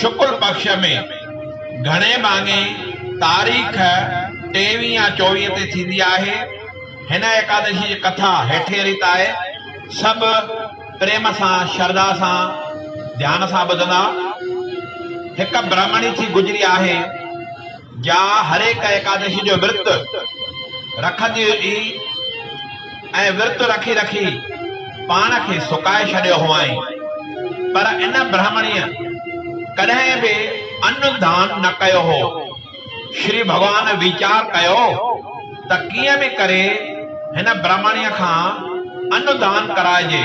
شڪل پڪش ۾ گهڻي ڀاڱي تاريخ ٽيوي يا چوويهه تي ٿيندي آهي. هن ايڪادشي جي ڪٿا هيٺين ريت آهي. سڀ پريم سان شرڌا سان ڌيان سان ٻڌندا. هڪ برهمڻي ٿي گذري آهي. جا هرهڪ ايڪادشي جو ورت رکندي هجي ۽ ورت رکي رکي پاڻ کي سڪائي ڇڏيو هئائين پر ان برهمڻيء ڪڏهن به ان ڌان نه ڪيو هو. شري ڀڳوان ويچار ڪيو ته ڪيئن به ڪري هن برهمڻيء کان ان ڌان ڪرائجي.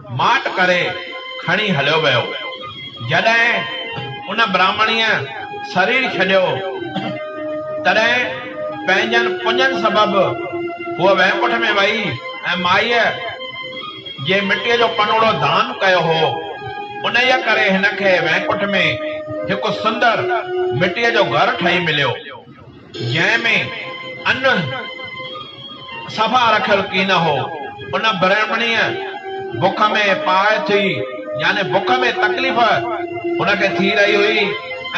ماٺ ڪري کڻي هليو ويو. جڏهن ان براهمڻيء سرير ڇڏيو، تڏهن پنهنجن پڃن سبب هوء وينڪٺ ۾ ويئي ۽ مائيء جي مٽيء جو پنوڙو دان ڪيو هو، انهيء ڪري هن کي وينڪٺ ۾ هڪ سندر مٽيء جو گهر ٺهي مليو. جنهن ۾ ان صفا رکيل ڪين هو، ان برهمڻيء بک ۾ پائي ٿي، يعني بک ۾ تڪليف هن کي ٿي رهي هئي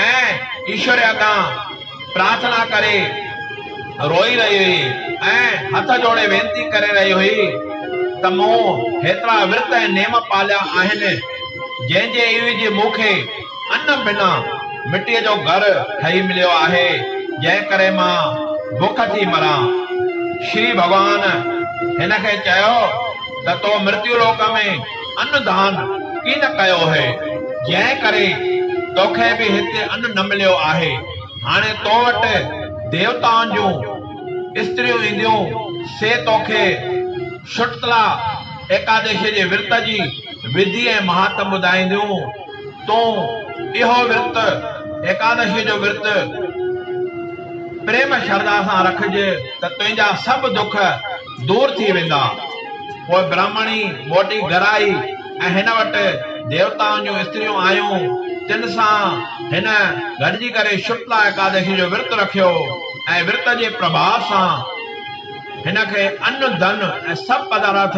۽ ايشور اڳيان پرارٿنا ڪري روئي رهي هئي ۽ هٿ جوڙي وينتي ڪري رهي هئي ته مون هيترا ورت ۽ نيم پاليا آهن، جنهن جي عيوض مون کي ان بنا مٽيء جو گهر ٺهي مليو آهي، جنهن ڪري مان بک ٿي مران. شري ڀڳوان هن کي چيو ته تو مرتيو لوڪ ۾ ان دان ڪين ڪيو هئي، جنهن ڪري توکي به هتي ان نه مليو آهي. هاڻي تو وٽ ديوتائن جون استريون اينديون، سي توکي شٽتلا ايڪادشيء جي ورت جي وڌي ۽ مهاتم ٻڌائينديون. تون اهو ورت، ايڪادشيء جو ورت، پريم شرڌا سان رکج ته تنهنجا سڀ دک دور ٿي ويندا. پوء برهمڻي موٽي گهر آئي ۽ هن وٽ ديوتائن جون استريون آيون، تن سان هن گڏجي ڪري شڪلا ايڪادشيء جو ورت رکيو ۽ ورت جي پرڀاء سان هن کي ان، ڌن ۽ سڀ پدارٿ،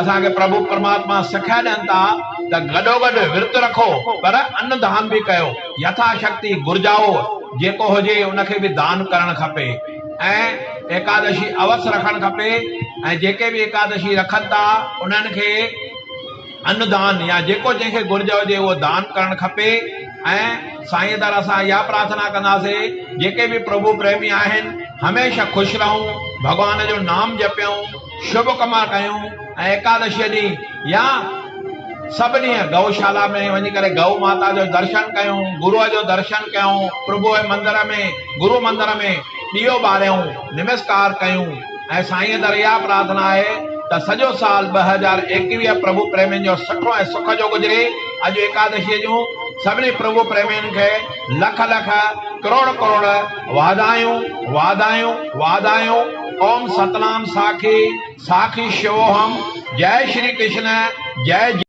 اسان کي پرڀو پرماتما سکيا ڏين ٿا ته گڏوگڏ ورت رکو پر ان دان به ڪيو. يٿا شڪتي گهرجائو جيڪو هجي ان کي به دان ڪرڻ کپي ۽ ايڪادشي اوس رکڻ کپي ۽ جيڪي به ايڪادشي رکن ٿا انهن کي ان دان يا جيڪو جنهن کي گهرج هجي اهو دان ڪرڻ کپي ۽ سائين در اسان اها پرارٿنا ڪنداسي جيڪي به پرڀو پريمي آهن هميشه خوش رهون ڀڳوان جو نام جپيون شڀ ڪم ڪيون ۽ ايڪادشيء ڏينهن يا سڀ ڏينهن گئو شالا ۾ وڃي ڪري گئو ماتا جو درشن ڪيون، گروء جو درشن ڪيون، پرڀوء جي مندر ۾ گرو مندر ۾ ڏيئو ٻاريون، نمسڪار ڪيون ۽ سائينء در اها پرارٿنا آهي ته سڄو سال ٻه هزار ايڪويهه پرڀو پريمين جو سٺو ۽ سک جو گذري، اڄ ايڪادشيء جون سڀني پرڀو پريمين کي لک لک ڪروڙ ڪروڙ. واڌايون واڌايون واڌايون اوم ستنام ساکي ساکي شووهم جئه شري ڪرشن جئه جئه.